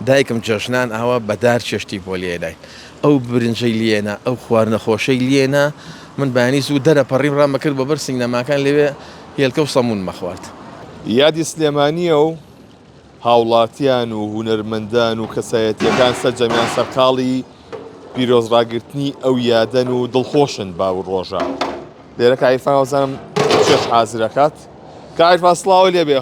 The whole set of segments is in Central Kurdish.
دایکم جەژنان ئاوا بە دار چێشتی بۆ لێناین. ئەو برنجەی لێنا، ئەو خواردنە خۆشەی لێنا. من بەیانی زوو دەرەپەڕیم، ڕام ئەکرد بۆ بەر سینەماکان، لەوێ هێلکە و سەموونم ئەخوارد. یادی سلێمانییە و هاوڵاتیان و هونەرمەندان و کەسایەتییەکان سەرجەمیان سەرقاڵی پیرۆز ڕاگرتنی ئەو یادەن و دڵخۆشن بەو ڕۆژە. لێرە کە عیرفان وابزانم چێشت حازر ئەکات. کاک عیرفان سڵاوو لێبێ.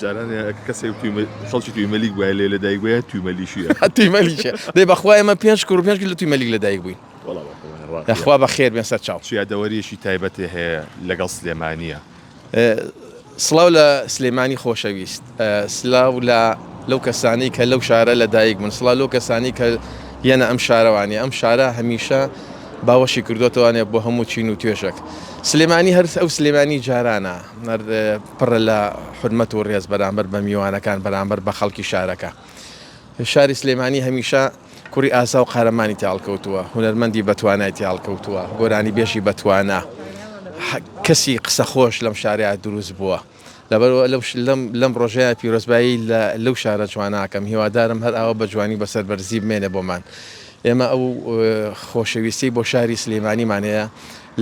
جاران کەسێک توی خەڵکی توی مەلیک بووە لێ لە دایک بووە توی مەلیشیە توی مەلیشە دەی بەخوا ئێمە پێنج کوڕ پێنج لە توی مەلیک لە دایک بووین خوا بە خێر بێن سەر چاو یادەوەریەکی تایبەتێ هەیە لەگەڵ سلێمانیە سڵاو لە سلێمانی خۆشەویست سلااو لە لەو کەسانی کە لەو شارە لە دایک من سڵا لەو کەسانی کە یەنە ئەم شارەوانی ئەم شارە هەمیشە باوەشی کردوتوانێت بۆ هەموو چین و توێژێک سلێمانی هەرس ئەو سلێمانی جارانە مەرد پڕە لە حورمەت و ڕێز بەرامبەر بە میوانەکان بەرامبەر بە خەڵکی شارەکە. شاری سلێمانی هەمیشە کوڕی ئازا و قارەمانی تێ هەڵکەوتووە، هونەرمەندی بەتوانای تێ هەڵکەوتووە، گۆرانیبێژی بەتوانا، کەسی قسەخۆش لەم شارەیا دروست بووە. لەبەرئەوە لەو لەم ڕۆژەیا پیرۆزبایی لە لەو شارە جوانە ئەکەم، هیوادارم هەر ئاوا بە جوانی و بە سەربەرزی بمێنێ بۆمان. ئێمە ئەو خۆشەویستیەی بۆ شاری سلێمانیمان هەیە،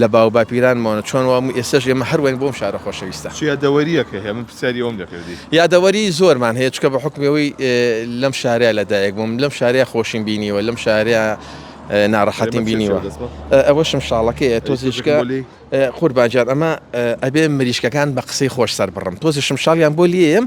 لە باو باپیرانمەوە چۆن وابوو ئێستەش ئێمە هەر واین بۆم شارە خۆشەویستە. چ یادەوەریەک هەیە من پرسیاری ئەوەم دەکرد دی. یادەوەری زۆرمان هەیە چونکە بە حوکمی ئەوەی لەم شارەیا لە دایک بووم لەم شارەیا خۆشیم بینیوە لەم شارەیا ناڕەحەتیم بینیوە ئەوەشم شاڵەکەیە تۆزیشکە قوربان جان ئەمە ئەبێ مریشکەکان بە قسەی خۆش سەر بڕم تۆزیشم شاڵیان بۆ لێیەم.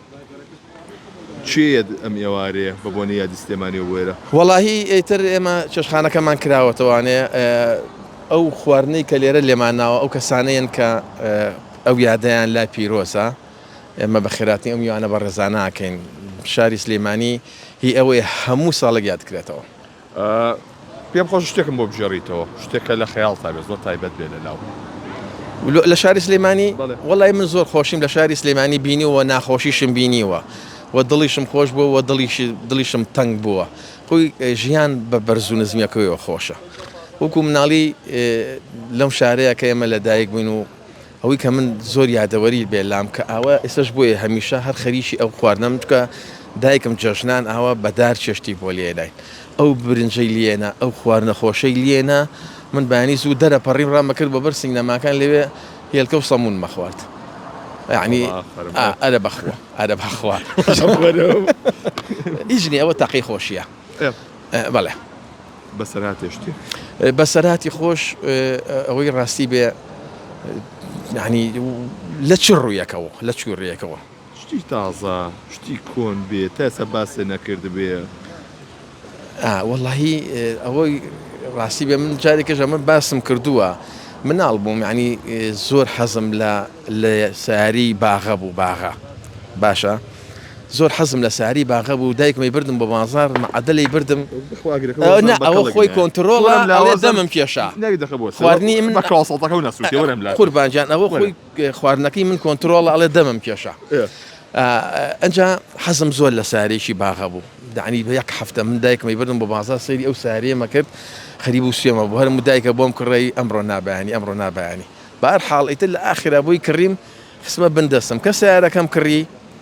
کێ یەت ئەم ئێوارەیە بە بۆنەی یادی سلێمانی و بوێرە؟ وەڵاهی ئیتر ئێمە چێشتخانەکەمان کراوەتەوانێ ئەو خواردنەی کە لێرە لێمان ناوە ئەو کەسانەیەن کە ئەو یادەیان لا پیرۆزە ئێمە بە خێراتنی ئەو میوانە بەڕێزانە ئەکەین شاری سلیمانی هی ئەوەیە هەموو ساڵێک یادکرێتەوە. پێم خۆشە شتێکم بۆ بگێڕیتەوە شتێک کە لە خەیاڵتا بێت زۆر تایبەت بێت لە لاو. لە شاری سلێمانی وەڵی من زۆر خۆشیم لە شاری سلێمانی بینیوە ناخۆشیشم بینیوە و دڵیشم خۆش بووە و دڵیشی دڵیشم تەنگ بووە خۆی ژیان بە بەرز و نزمیەکەیەوە خۆشە وەکو مناڵی لەم شارەیە کە ئێمە لە دایک بووین و ئەوەی کە من زۆر یادەوەری بێ لام کە ئاوا ئێسش بۆیە هەمیشە هەر خەریکی ئەو خواردنەم چکە دایکم جەژنان ئاوا بەدار چێشتی بۆ لێنای ئەو برنجەی لێنە ئەو خواردنە خۆشەی لێنە من بەیانی زوو دەرە پەڕیم ڕامە کرد بە بەر سینەماکان لەوێ هێلکە و سەمون مەخوارد یعنی ئەرە بەخوا ئەرە بەخوا ئیژنی ئەوە تاقی خۆشیە بەڵێ بەسەرهاتێ شتێ. بەسەرهاتی خۆش ئەوەی ڕاستی بێ یعنی لە چ ڕوویەکەوە لە چ ڕێیەکەوە. شتی تازە شتی کۆن بێ تا ئێستا باسێ نەکردبێ. ئا وەڵاهی ئەوەی ڕاستی بێ من جارێکیش ئەمە باسم کردووە مناڵ بووم یعنی زۆر حەزم لە لە سەیارەی باغە بوو باغە باشە. زۆر حەزم لە ساری باغە بوو دایکمی بردم بۆ بازار مەعەدەلی بردم نا ئەوە خۆی کۆنترۆڵە ئەڵێ دەمم کێشا خواردنی من قوربان گیان ئەوە خۆی خواردنەکەی من کۆنترۆڵە ئەڵێ دەمم کێشا ئەجا حەزم زۆر لە سارێکی باغە بوو دانی بە یەک هەفتە من دایکمی بردم بۆ بازار سەیری ئەو سارێمە کرد خەریب و سوێمە بۆ هەرم دایکە بۆم کڕی ئەمڕۆ نابیانی ئەمڕۆ نابیانی بار حاڵیتر لە ئاخرا بۆی کڕیم خسمە بندەسم کە سارەکەم کڕی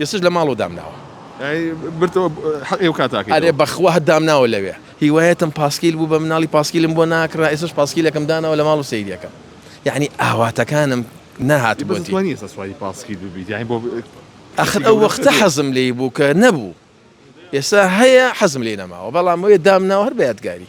ئێستەش لە ماڵەوە دامناوە. ئەی برتەوە حەقی ئەوکاتە ئەکەیتەوە. ئەرێ بەخوا دامناوە لەوێ. هیوایەتم پاسکیل بوو بە مناڵی پاسکیلم بۆ ناکڕا ئێستەش پاسکیلەکەم داناوە لە ماڵ و سەیری ئەکەم یەعنی ئاواتەکانم نەهاتبووە دی. بەس دەتوانی ئێستا سواری پاسکیل ببیت یەعنی بۆ. ئاخر ئەو وەختە حەزم لێی بوو کە نەبوو ئێستا هەیە حەزم لێی نەماوە بەڵام وەیە دامناوە هەر بە یادگاری.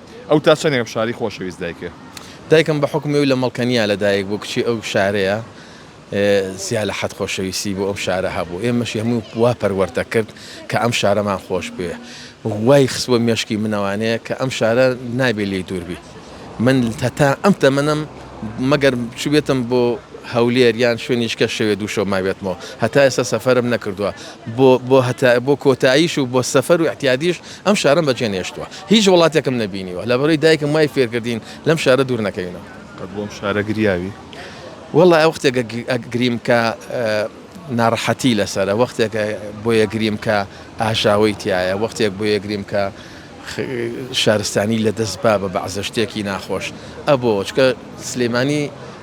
ئەو تا چەندێک ئەم شاری خۆشەویست دایکێ؟ دایکم بە حوکمی ئەوی لە مەڵکەنیا لە دایک بوو کچی ئەو شارەیە زیا لە حەد خۆشەویستی بۆ ئەم شارە هەبوو ئێمەشی هەموو وا پەروەرت دەکرد کە ئەم شارەمان خۆش بوێ وای خستوە مێشکی منەوانەیە کە ئەم شارە نابێ لێی دووربی من هەتا ئەم تەمەنم مەگەر چوبێتم بۆ هەولێر یان شوێنیشکە شەوێ دووشەو ماوێتمەوە هەتا ئێستا سەفرم نەکردووە بۆ بۆ هەتا بۆ کۆتاییش و بۆ سەفەر و احتیادیش ئەم شارەم بەجێ نێشتووە. هیچ وڵاتێکم نەبینیوە. لە بەرەی دایکم وای فێر کردین لەم شارە دوور نەکەوینەوە. قەت بۆ ئەم شارە گریاوی؟ وەڵا وەختێک ئەگریم کە ناڕەحەتی لەسەرە، وەختێک بۆیەگریم کە ئاژاوەی تیایە، وەختێک بۆیەگریم کە شارستانی لەدەست با بە بەعزە شتێکی ناخۆش ئەبۆوە چکە سلیمانی.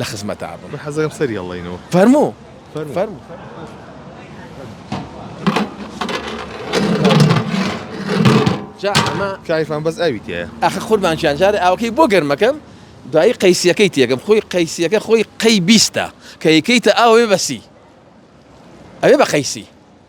لە خزمەتا بم. من حەزەکەم سەری هەڵێینەوە. فەرموو فەرموو. جا ئەمە کایفان بەس ئاوی تێیە. ئاخە قوربان گیان جارێ ئاوەکەی بۆ گەرمەکەم دوایی قەیسیەکەی تێکەم خۆی قەیسیەکە خۆی قەی بیستە کە یکەیتە ئاو ئەوێ بەسی ئەوێ بە قەیسی.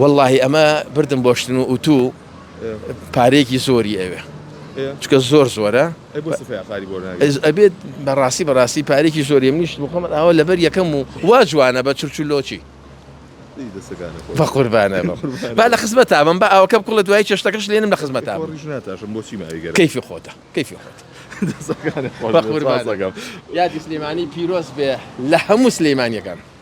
وەڵاهی ئەمە بردم بۆ شتن و ئوتو پارەیەکی زۆری ئەوێ چکە زۆر زۆرە ئەبێت بەڕاستی بەڕاستی پارێکی زۆری منیش بخۆمە ئەوە لەبەر یەکەم و وا جوانە بە چرچلۆچی بە قوربانە با لە خزمەت تابم بە ئەوکەم کوڵە دوای چێشتەکەش لێنم لە خزمەت کەیفی خۆتە کەیفی خۆت یادی سلێمانی پیرۆز بێ لە هەموو سلێمانیەکان.